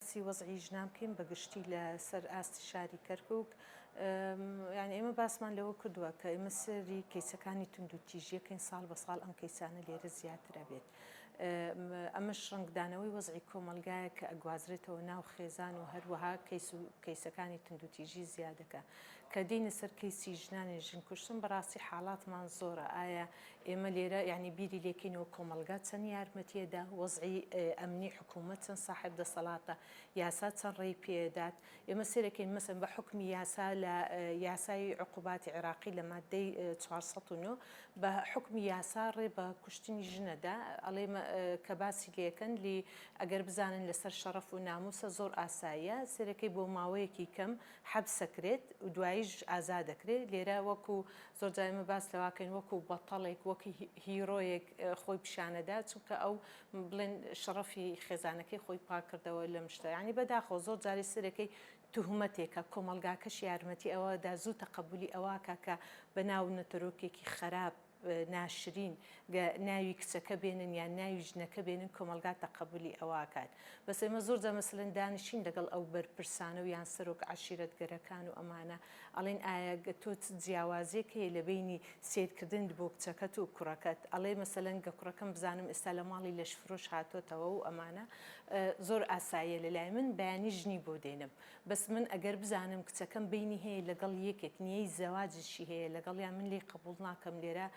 باسی وەزعی ژنان بکەین بە گشتی لە سەر ئاستی شاری کەرکوک یانی ئێمە باسمان لەوە کردووە کە ئێمە سەری کەیسەکانی توند و تیژیەکەین ساڵ بە ساڵ ئەم کەیسانە لێرە زیاترە بێت ئەمەش ڕنگدانەوەی وەزعی کۆمەلگایە کە ئەگوازرێتەوە ناو خێزان و هەروەها کەیس و کەیسەکانی توند و تیژی زیادەکە کە دێینە سەر کەیسی ژنانی ژن کوشتن بەڕاستی حاڵاتمان زۆرە ئایا ئێمە لێرە یانی بیری لێکەینەوە کۆمەڵگا چەند یارمەتیەدا وەزعی ئەمنی حکومەت چەند ساحێب دەسەڵاتە یاسا چەند ڕێی پێدات ئێمە سێرەکەین مەسەن بە حکمی یاسا لە یاسای عقوباتی عێراقی لە مادەی 409 بە حکمی یاسا ڕێ بە کوشتنی ژنەدا ئەڵێ کە باسی لەکەن لی ئەگەر بزانن لەسەر شەڕەف و ناموسە زۆر ئاساییە سێرەکەی بۆ ماوەیەکی کەم حەبسەکرێت و دواییش ئازادەکرێت، لێرە وەکو زۆر جار ئێمە باس لەواکەین وەکو بەتەڵێک وەک هیرۆیەک خۆی پیشانەدا چونکە ئەو بڵێن شەڕەفی خێزانەکەی خۆی پاککردەوە لەم شتە یانی بەداخەوە زۆر جاری سەرەکەی توهمەتێکە کۆمەڵگاکەش یارمەتی ئەوەدا زوو تەقەبولی ئەوەکا کە بەناو نەتەرۆکێکی خەراپ ناشرین گە ناوی کچەکە بێنن یان ناوی ژنەکە بێنن کۆمەڵگا تەقەبولی ئەوە ئەکات بەس ئێمە زۆر جار مەسەلەن دانیشین لەگەڵ ئەو بەرپرسانە و یان سەرۆک عەشیرەتگەرەکان و ئەمانە ئەڵێن ئایا گە تۆ چ جیاوازیەک هەیە لە بەینی سەیر کردنت بۆ کچەکەت و کوڕەکەت ئەڵێ مەسەلەن گە کوڕەکەم بزانم ئێستا لە ماڵی لەشفرۆش هاتۆتەوە و ئەمانە زۆر ئاساییە لە لای من بەیانی ژنی بۆ دێنم بەس من ئەگەر بزانم کچەکەم بەینی هەیە لەگەڵ یەکێک نیەی زەواجشی هەیە لەگەڵیا من لێی قبوڵ ناکەم لێرە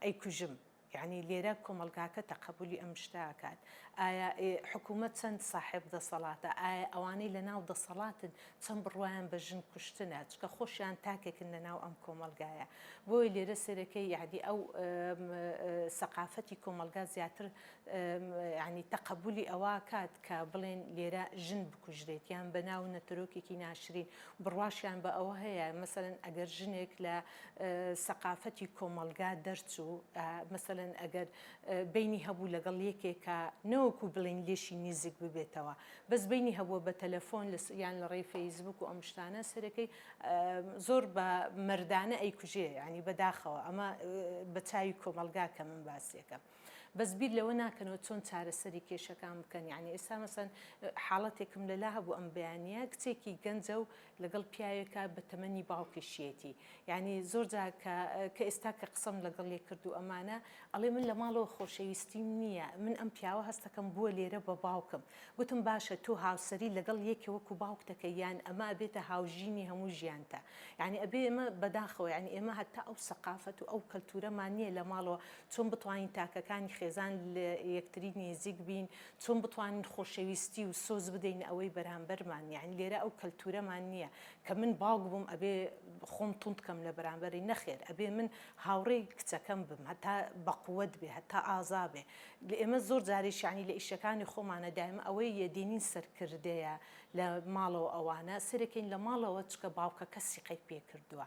ئەیکوژم یانی لێرە کۆمەڵگاکە تەقەبولی ئەم شتە ئەکات ئایا حکومەت چەند ساحێب دەسەڵاتە ئایا ئەوانەی لە ناو دەسەڵاتن چەند بڕوایان بە ژن کوشتنە چکە خۆشیان تاکێکن لە ناو ئەم کۆمەلگایە بۆی لێرە سێرەکەی یادی ئەو سەقافەتی کۆمەلگا زیاتر یانی تەقەبولی ئەوە کات کە بڵێن لێرە ژن بکوژرێت یان بە ناو نەتەرۆکێکی ناشرین بڕواشیان بە ئەوە هەیە مەسەن ئەگەر ژنێک لە سەقافەتی کۆمەلگا دەرچوو مەسەن ئەگەر بینی هەبوو لەگەڵ یەکێکە نەوەکو بڵین لێشی نیزیک ببێتەوە بەس بینی هەبووە بە تەلەفۆن لە یان لە ڕێی فەیسبوک و ئەم شتانە سەرەکەی زۆر بە مردانە ئەیکوژێ ینی بەداخەوە ئەمە بە چاوی کۆمەلگا کە من باسیەکەم. بەس بیر لەوە ناکەنەوە چۆن چارەسەری کێشەکان بکەن یانی ئێستا مەسەن حاڵەتێکم لەلا هەبوو ئەم بەیانە کچێکی گەنجە و لەگەڵ پیاوێکە بە تەمەنی باوکیشیەتی یعنی زۆر جاکە کە ئێستا کە قسەم لەگەڵ لێ کرد و ئەمانە ئەڵێ من لە ماڵەوە خۆشەویستیم نییە من ئەم پیاوە هەستەکەم بووە لێرە بە باوکم گوتم باشە تۆ هاوسری لەگەڵ یەکێ وەکو باوک دەکە یان ئەمە بێتە هاوژینی هەموو ژیانتە یعنی ئەبێ ئمە بەداخەوە یعنی ئێمە هەتا ئەو سەقافەت و ئەو کەلتورەمان نییە لە ماڵەوە چۆن بتوانین تاکەکانی خێزان لە یەکتری نێزیک بین، چۆن بتوانین خۆشەویستی و سۆز بدەینە ئەوەی بەرامبەرمان، یانی لێرە ئەو کەلتورەمان نیە کە من باوک بووم ئەبێ خۆم توند کەم لە بەرامبەری، نەخێر ئەبێ من هاوڕێی کچەکەم بم هەتا بە قوەت بێ هەتا ئازا بێ، ئێمە زۆر جاریش یانی لە ئیشەکانی خۆمانە دایمە ئەوەی یە دێنین سەرکردەیە لە ماڵەوە ئەوانە سەیرەکەین لە ماڵەوە چکە باوکەکە سیقەی پێ کردوە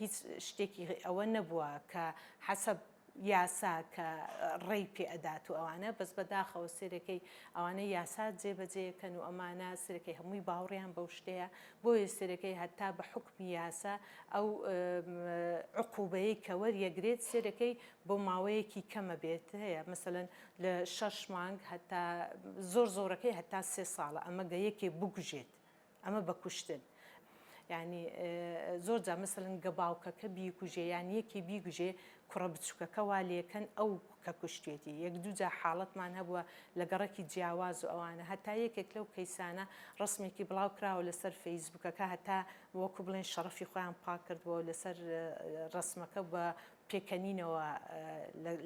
هیچ شتێکی ئەوە نەبووە کە حەسەب یاسا کە ڕێی پێ ئەدات و ئەوانە بەس بەداخەوە سێرەکەی ئەوانە یاسا جێ بەجێ یەکەن و ئەمانە سێرەکەی هەمووی باوڕیان بەو شتەیە بۆیە سێرەکەی هەتا بە حوکمی یاسا ئەو عقوبەیەی کە وەریەگرێت سێرەکەی بۆ ماوەیەکی کەمە بێت هەیە مەسەن لە شەش مانگ هەتا زۆر زۆرەکەی هەتا سێ ساڵە ئەمە گە یەکێ بگوژێت ئەمە بە کوشتن یانی زۆر جا مەسەلەن گە باوکەکە بیکوژێ یان یەکێ بیگوژێ کوڕە بچووکەکە وا لێکەن ئەو کە کوشتێتی یەک دوو جا حاڵەتمان هەبووە لە گەڕەکی جیاواز و ئەوانە هەتا یەکێک لەو کەیسانە ڕسمێکی بڵاو کراوە لەسەر فەیسبووکەکە هەتا وەکو بڵێن شەڕەفی خۆیان پاک کردبەوە لەسەر ڕسمەکە بە پێکەنینەوە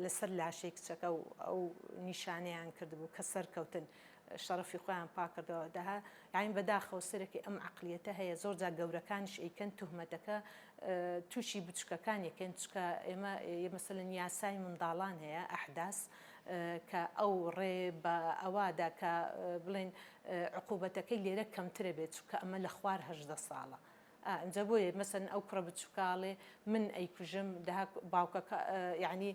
لەسەر لاشەی کچەکە و ئەو نیشانەیان کردبوو کە سەرکەوتن. شەڕەفی خۆیان پاکردەوە دە یانی بەداخەوە سەرەکی ئەم عقلیەتە هەیە زۆر جا گەورەکانش ئەیکەن تهمەتەکە تووشی بچکەکان یەکەن چکە ئێمە مەسەن یاسای منداڵان هەیە ئەحداس کە ئەو ڕێ بە ئەوادا کە بڵێن عقوبەتەکەی لێرە کەمترە بێت چکە ئەمە لە خوار هەژدە ساڵە. ئا ئنجا بۆیە مەسەن ئەو کوڕە بچوکە ئەڵێ من ئەیکوژم دەها باوکەکە یەعنی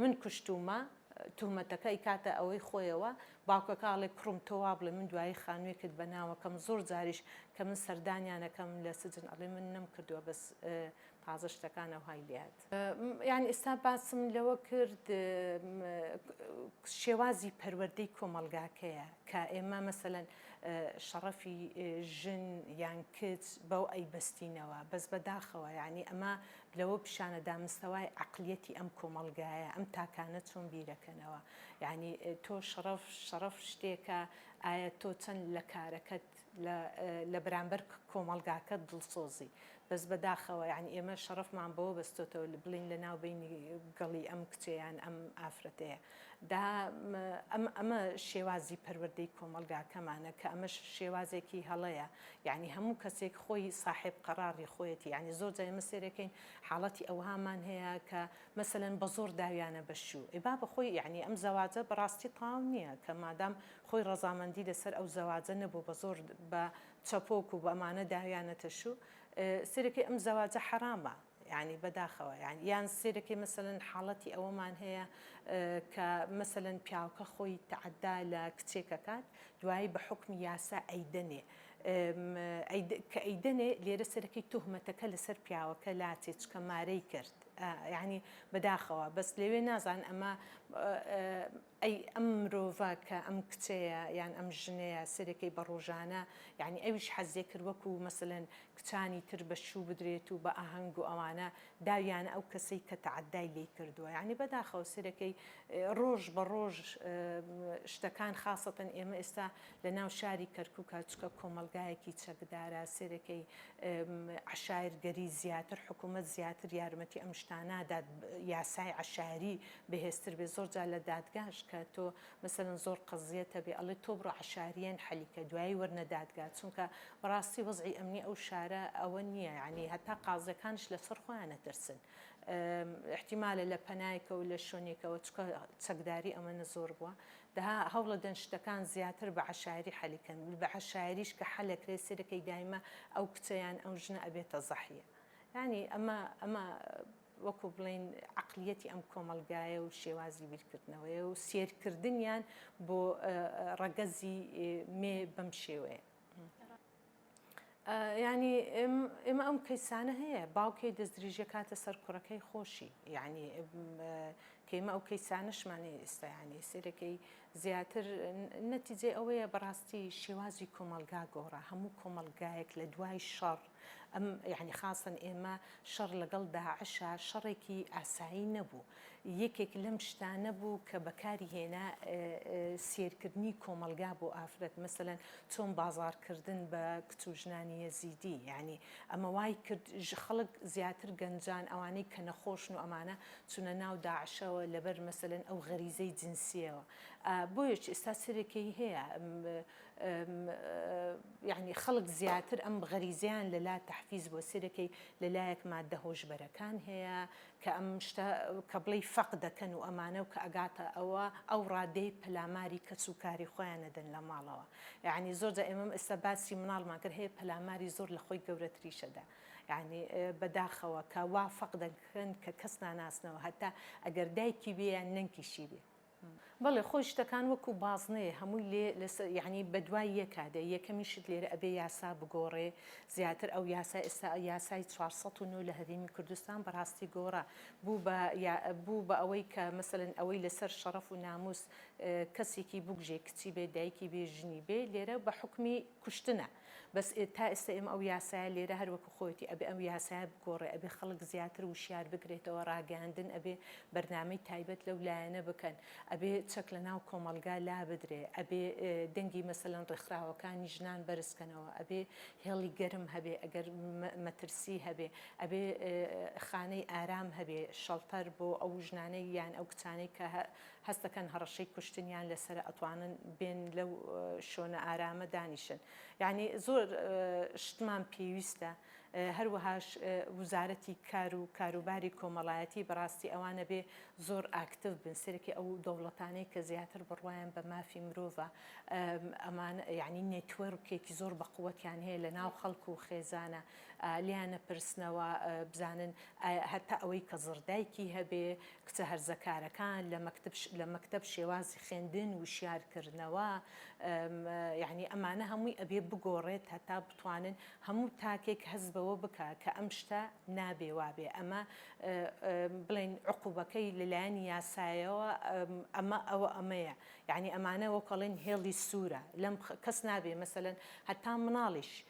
من کوشتومە توهمەتەکە ئەیکاتە ئەوەی خۆیەوە باوکەکە ئەڵێ کوڕم تۆ وابڵێ من دوایی خانوێکت بەناوەکەم زۆر جاریش کە من سەردانیان ئەکەم لە سجن ئەڵێ من نەمکردوە بەس تازە شتەکان ئەوهای لێ یانی ئێستا باسم لەوە کرد شێوازی پەروەردەی کۆمەڵگاکەیە کە ئێمە مەسەەن شەڕەفی ژن یان کچ بەو ئەی بەستینەوە بەس بەداخەوە یعنی ئەمە لەوە پیشانە دامستەوای عقلیەتی ئەم کۆمەڵگایە ئەم تاکانە چۆن بیرەکەنەوە یعنی تۆ شەڕەف شەڕەف شتێکە ئایا تۆ چەند لە کارەکەت لە بەرامبەر کۆمەڵگاکە دڵسۆزی بەس بەداخەوە یانی ئێمە شەڕەفمان بەوە بەستۆتەوە لە بڵین لە ناو بینی گەڵی ئەم کچەیان ئەم ئافرەتەیە دا ئەم ئەمە شێوازی پەروەردەی کۆمەڵگاکەمانە کە ئەمەش شێوازێکی هەڵەیە یعنی هەموو کەسێک خۆی ساحب قەڕاڕی خۆیەتی یعنی زۆر جای مسێرەکەین حاڵەتی ئەوهامان هەیە کە مەسەن بە زۆر داویانە بەشوو ئێ با بە خۆی یعنی ئەم زەواجە بەڕاستی تاو نییە کە مادام خۆی ڕەزامەندی لەسەر ئەو زەواجە نەبوو بە زۆر بە چەپۆک و بەمانە داویانەتە شو سەرەکی ئەم زەواجە حەرامە یانی بەداخەوە یان یان سەرەکی مەسەلەن حاڵەتی ئەوەمان هەیە کە مەسەلەن پیاوکە خۆی تەعەدا لە کچێکەکات دوایی بە حکمی یاسا ئەیدەنێ کە ئەیدەنێ لێرە سەرەکی تهمەتەکە لەسەر پیاوەکە لاتێ چکە مارەی کرد یعنی بەداخەوە بەس لەوێ نازان ئەمە ئەی ئەم مرۆڤە کە ئەم کچەیە یان ئەم ژنەیە سەرەکەی بە ڕۆژانە یانی ئەویش حەزێ کرد وەکو مەسەلەن کچانی تر بە شوو بدرێت و بە ئاهەنگ و ئەوانە داویانە ئەو کەسەی کە تەعەدای لێی کردووە یانی بەداخەوە سەرەکەی ڕۆژ بە ڕۆژ شتەکان خاسەتەن ئێمە ئێستا لە ناو شاری کەرکوک چکە کۆمەڵگایەکی چەکدارە سەرەکەی عەشایەرگەری زیاتر حکوومەت زیاتر یارمەتی ئەم شتانە نادات یاسای عەشایەری بەهێزتر بێ زۆر جار لە دادگاش کە تۆ مەسەلەن زۆر قەزیەت هەبێ ئەڵێ تۆ بڕۆ عەشاریەن حەلی کە دوایی وەرنە دادگا چونکە بەڕاستی وەزعی ئەمنی ئەو شارە ئەوە نیە یانی هەتا قازیەکانش لەسەر خۆیان ئەترسن ئیحتیمالە لە پەنایکەوە لە شوێنێکەوە چکە چەکداری ئەمەنە زۆر بوە دەها هەوڵەدەن شتەکان زیاتر بە عەشایری حەلی کەن بە عەشایریش کە حەلەکرێ سەیرەکەی دایمە ئەو کچە یان ئەو ژنە ئەبێتە زەحیە یانی ئەمە ئەمە وەکو بڵێین عەقلیەتی ئەم کۆمەڵگایە و شێوازی بیرکردنەوەیە و سێرکردنیان بۆ ڕەگەزی مێ بەم شێوەیە. یعنی ئێمە ئەم کەیسانە هەیە باوکێ دەستدرێژیە کاتە سەر کوڕەکەی خۆشی یعنی کەیمە ئەو کەیسانشمانێ ئێستایانی سێرەکەی زیاتر نەتیجێ ئەوەیە بەڕاستی شێوازی کۆمەلگا گۆڕا هەموو کۆمەلگایەک لە دوای شەڕ ئەم یانی خاسەن ئێمە شەڕ لەگەڵ داعشا شەڕێکی ئاسایی نەبوو یەکێک لەم شتانە بوو کە بەکاری هێنا سیرکردنی کۆمەلگا بۆ ئافرەت مەسەلەن چۆن بازارکردن بە کچ و ژنانی یەزیدی یانی ئەمە وای کرد خەڵک زیاتر گەنجان ئەوانەی کە نەخۆشن و ئەمانە چونە ناو داعشەوە لەبەر مەسەلەن ئەو غەریزەی جنسیەوە بۆیەچ ئێستا سرێکەی هەیە یانی خەڵک زیاتر ئەم غەریزەیان لە لا تەحفیز بووە سەیر دەکەی لە لایەک ماددە هۆشبەرەکان هەیە کە ئەم شتە کە بڵێی فەق دەکەن و ئەمانە و کە ئەگاتە ئەوە ئەو ڕادەی پەلاماری کەس و کاری خۆیان نەدەن لە ماڵەوە یعنی زۆر جا ئێمەم ئێستا باسی مناڵمان کرد هەیە پەلاماری زۆر لە خۆی گەورەتریشەدا یعنی بەداخەوە کە وا فەق دەکەن کە کەس ناناسنەوە هەتا ئەگەر دایکی بێ یان نەنکیشی بێ بەڵێ خۆی شتەکان وەکو بازنەیە هەمووی لێ لەسەر یەعنی بەدوای یەکا دێ یەکەمین شت لێرە ئەبێ یاسا بگۆڕێ زیاتر ئەو یاسای ئێستا یاسای چوار سەد و نۆ لە هەرێمی کوردستان بەڕاستی گۆڕا بوو بە یا بوو بە ئەوەی کە مەسەلەن ئەوەی لەسەر شەڕەف و نامووس کەسێکی بکوژێ کچی بێ دایکی بێ ژنی بێ لێرە بە حوکمی کوشتنە بەس تا ئێستا ئێمە ئەو یاسایە لێرە هەر وەکو خۆیەتی ئەبێ ئەو یاسایە بگۆڕێ ئەبێ خەڵک زیاتر وشیار بکرێتەوە ڕاگەیاندن ئەبێ بەرنامەی تایبەت لەو لایەنە بکەن ئەبێ چەک لە ناو کۆمەڵگا لابدرێ ئەبێ دەنگی مەسەلەن ڕێکخراوەکانی ژنان بەرز کەنەوە ئەبێ هێڵی گەرم هەبێ ئەگەر مەترسی هەبێ ئەبێ خانەی ئارام هەبێ شەڵتەر بۆ ئەو ژنانەی یان ئەو کچانەی کە هەست دەکەن هەڕەشەی کوشتنیان لەسەرە ئەتوانن بێن لەو شۆنە ئارامە دانیشن یانی زۆر شتمان پێویستە هەروەهاش وزارەتی کار و کاروباری کۆمەڵایەتی بەڕاستی ئەوانە بێ زۆر ئاکتف بن سەرکی ئەو دەوڵەتانەی کە زیاتر بڕوایم بە مافی مرۆڤە ئەمان یعنی نێتوەرکێکی زۆر بەقوەتیان هەیە لە ناو خەڵک و خێزانە لێیان ئەپرسنەوە بزانن هەتا ئەوەی کە زڕ دایکی هەبێ کچە هەرزەکارەکان لە مەکتب لە مەکتەب شێوازی خوێندن وشیار کردنەوە یعنی ئەمانە هەمووی ئەبێ بگۆڕێت هەتا بتوانن هەموو تاکێک هەست بەوە بکا کە ئەم شتە نابێ وابێ ئەمە بڵێن عقوبەکەی لەلایەنی یاسایەوە ئەمە ئەوە ئەمەیە یعنی ئەمانە وەکەڵێن هێڵی سوورە لەم کەس نابێ مەسەن هەتا مناڵیش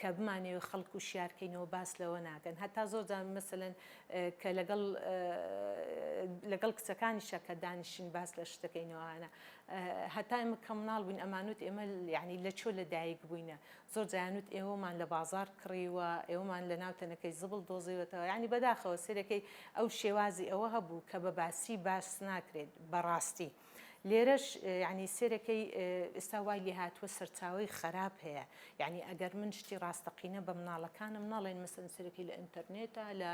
کە بمانەوێت خەڵک وشیار کەینەوە باس لەوە ناکەن هەتا زۆر جار مەسەلەن کە لەگەڵ لەگەڵ کچەکانیشە کە دانیشین باس لە شتەکەینەوەانە هەتا ئمە کەمناڵ بووین ئەمانوت ئێمە ینی لە چۆ لە دایک بووینە زۆر جیانوت ئێوەمان لە بازار کڕیوە ئێوەمان لە ناو تەنەکەی زبڵ دۆزیوەتەوە ینی بەداخەوە سێرەکەی ئەو شێوازی ئەوە هەبوو کە بە باسی باس ناکرێت بەڕاستی. لێرەش یانی سێرەکەی ئستا وای لێ هاتووە سەرچاوەی خەراپ هەیە یعنی ئەگەر من شتی ڕاستەقینە بە مناڵەکانم ناڵێن مەسن سەرەکەی لە ئینتەرنێتە لە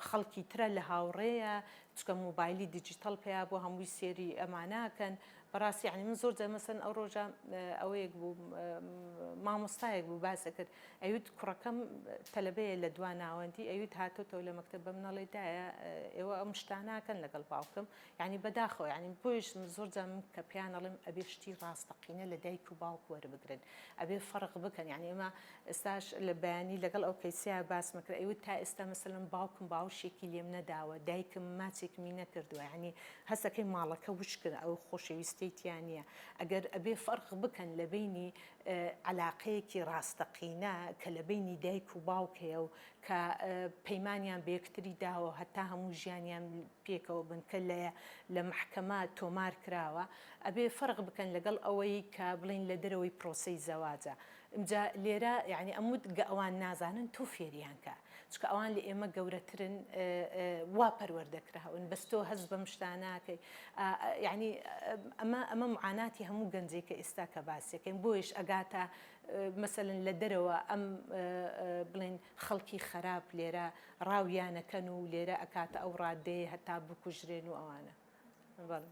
خەڵکی ترە لە هاوڕێیە چکە موبایلی دیجیتەڵ پێیا بۆ هەمووی سێری ئەماناکەن بەڕاستی عنی من زۆر جەمەسن ئەو ڕۆژە ئەوەیەک بوو مامۆستایەک بوو باسە کرد ئەوت کوڕەکەم تەلبەیە لە دوا ناوەندی ئەوت هاتۆتەوە لە مەکتتە بەم نەڵێدایە ئێوە ئەم شتاناکەن لەگەڵ باوکم یانی بەداخەوە یانی بۆیش زۆر جار من کە پێیان ئەڵێم ئەبێ شتی ڕاستەقینە لە دایک و باوک وەربگرن ئەبێ فەرق بکەن یانی ئێمە ئێستاش لە بەیانی لەگەڵ ئەو کەیسە باسمە کرد ئەیوت تا ئێستا مەسەلەن باوکم باوشێکی لێم نەداوە دایکم ماچێکمی نەکردووە یانی هەستەکەی ماڵەکە وشکن ئەو خۆشەویستەی تیا نییە ئەگەر ئەبێ فەرق بکەن لە بینی عەلاقەیەکی ڕاستەقینە کە لە بینی دایک و باوک هەیە و کە پەیمانیان بە یەکتری داوە هەتا هەموو ژیانیان پێکەوە بن کە لە لە مەحکەمە تۆمار کراوە ئەبێ فەرق بکەن لەگەڵ ئەوەی کە بڵێن لە دەرەوەی پرۆسەی زەواجە ئمجا لێرە یانی ئەموت گە ئەوان نازانن تۆ فێریان کە چکە ئەوان لە ئێمە گەورەترن وا پەروەردە کراون بەس تۆ هەست بەم شتا ناکەی یانی ئەمە ئەمە معاناتی هەموو گەنجێکە ئێستا کە باسەکەین بۆیش ئەگاتە مەسەلەن لە دەرەوە ئەم بڵێن خەڵکی خەراپ لێرە ڕاویانەکەن و لێرە ئەکاتە ئەو ڕادەیە هەتا بکوژرێن و ئەوانە بەڵێ.